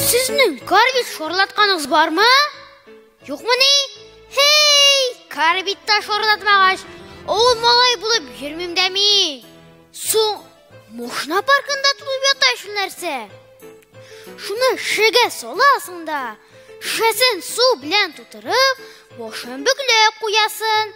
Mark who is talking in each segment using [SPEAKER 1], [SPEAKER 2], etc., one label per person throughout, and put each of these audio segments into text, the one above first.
[SPEAKER 1] Сезнең карбит шорлатканыгыз бармы? Юкмыни? Хей, карбитта шорлатмагач, ул малай булып йөрмим дә мин. Соң Мошна паркында тулып ята шул нәрсә. Шуны шегә саласың да, шешәсен су белән тутырып, башын бөкләп куясын.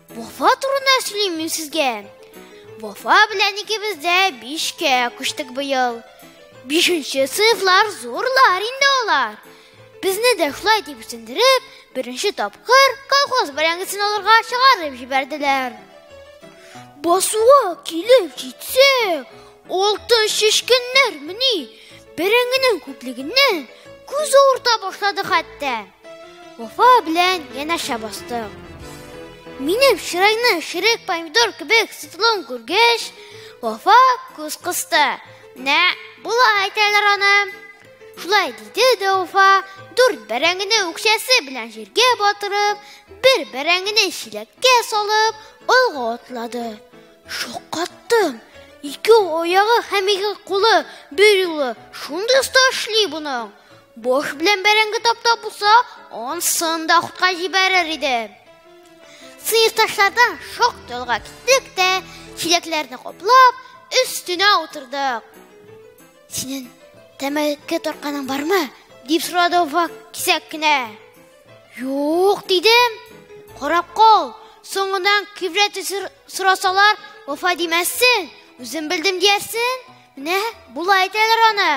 [SPEAKER 1] Вафа турында сөйлим мин сезгә. Вафа белән икебез дә бишкә күчтек быел. Бишенче сыйфлар зурлар инде алар. Безне дә шулай дип үсендереп, беренче тапкыр колхоз бәрәңгесен алырга чыгарып җибәрделәр. Басуга килеп җитсә, алты шешкеннәр мени бәрәңгенең күплегеннән күз авырта башлады хәтта. Вафа белән янәшә бастык. Минем чырайны ширек помидор кебек сытылуын күргәч, Вафа күз кысты. Нә, була әйтәләр аны. Шулай диде дә Вафа, дүрт бәрәңгене үкчәсе белән җиргә батырып, бер бәрәңгене чиләккә салып, алга атлады. Шаккаттым. Ике оягы һәм ике кулы бер юлы шундый оста эшли буның. Баш белән бәрәңге таптап булса, ансын да хутка җибәрер иде. Сыйырташлардан шактый алга киттек тә, чиләкләрне каплап, өстенә утырдык. Синең тәмәке тартканың бармы? дип сорады Вак кисәк кенә. Юк, дидем. Карап кал, соңыннан кибрәт сорасалар, вафа димәссең, үзем белдем диярсең. Менә болай әйтәләр аны.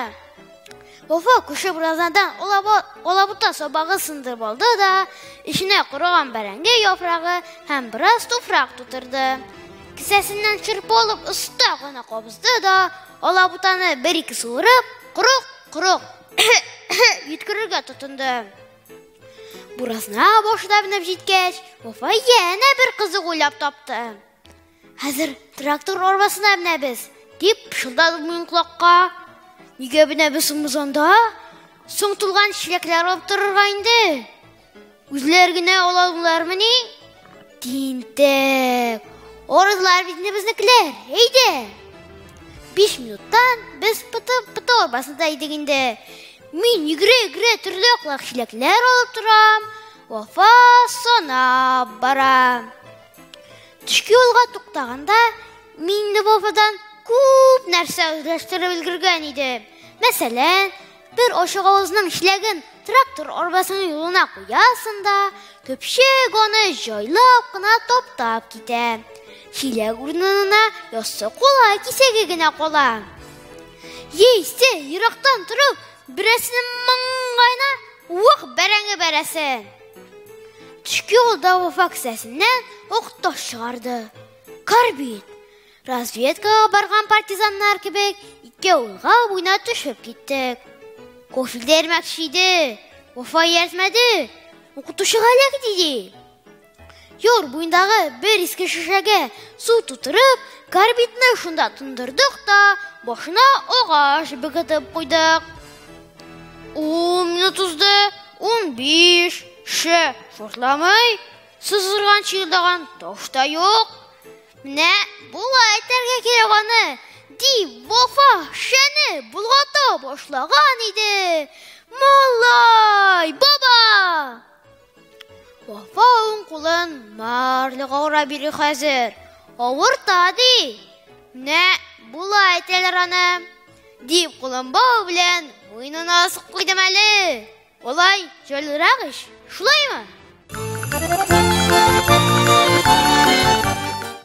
[SPEAKER 1] Вафа күрше буразнадан алабута сабагы сындырып алды да, эченә корыган бәрәңге яфрагы һәм бераз туфрак тутырды. Кесәсеннән шырпы алып оста гына кабызды да, алабутаны бер-ике суырып, корык, корык йөткерергә тотынды. Буразна башына менеп җиткәч, Вафа янә бер кызык уйлап тапты. Хәзер трактор арбасына менәбез, дип пышылдады минем колакка. Нигә менәбез соң без анда? Соң тулган чиләкләр алып торырга инде. Үзләр генә алалармыни? Тинтәк. Орызлар бит безнекеләр. Әйдә. 5 минуттан без пытып пыты арбасында идек инде. Мин игре-игре төрле аклак чиләкләр алып торам. Вафа сана бара. Төшке юлга туктаганда мин Львовадан күп нәрсә үзләштереп өлгергән идем. Мәсәлән, бер ошык авызның чиләген трактор арбасының юлына куясың да, көпшек аны җайлап кына таптап китә. Чиләк урынына яссы кула кисәге генә кала. Яисә ерактан торып, берәрсенең маңгаена ук бәрәңге бәрәсен. Төшке юлда вафа кесәсеннән ук таш чыгарды. Карбин. Разведкага барган партизаннар кебек ике улга буйна төшеп киттек. Кофе дәрмәкче иде. Вафа ияртмәде. Укытучы галәк диде. Юр буендагы бер иске шешәгә су тутырып, карбидны шунда тундырдык та, башына агач бөгетеп куйдык. Ун минут узды, ун биш, ше, шортламый, сызгырган чыгырдаган таш та юк. Менә болай әйтергә кирәк аны, дип Вафа шәне болгата башлаган иде. Малай, баба! Вафа уң кулын марлыга урап йөри хәзер. Авырта, ди. Менә була әйтәләр аны. Дип кулын бау белән муенына асып куйдым әле. Болай җайлырак ич, шулаймы?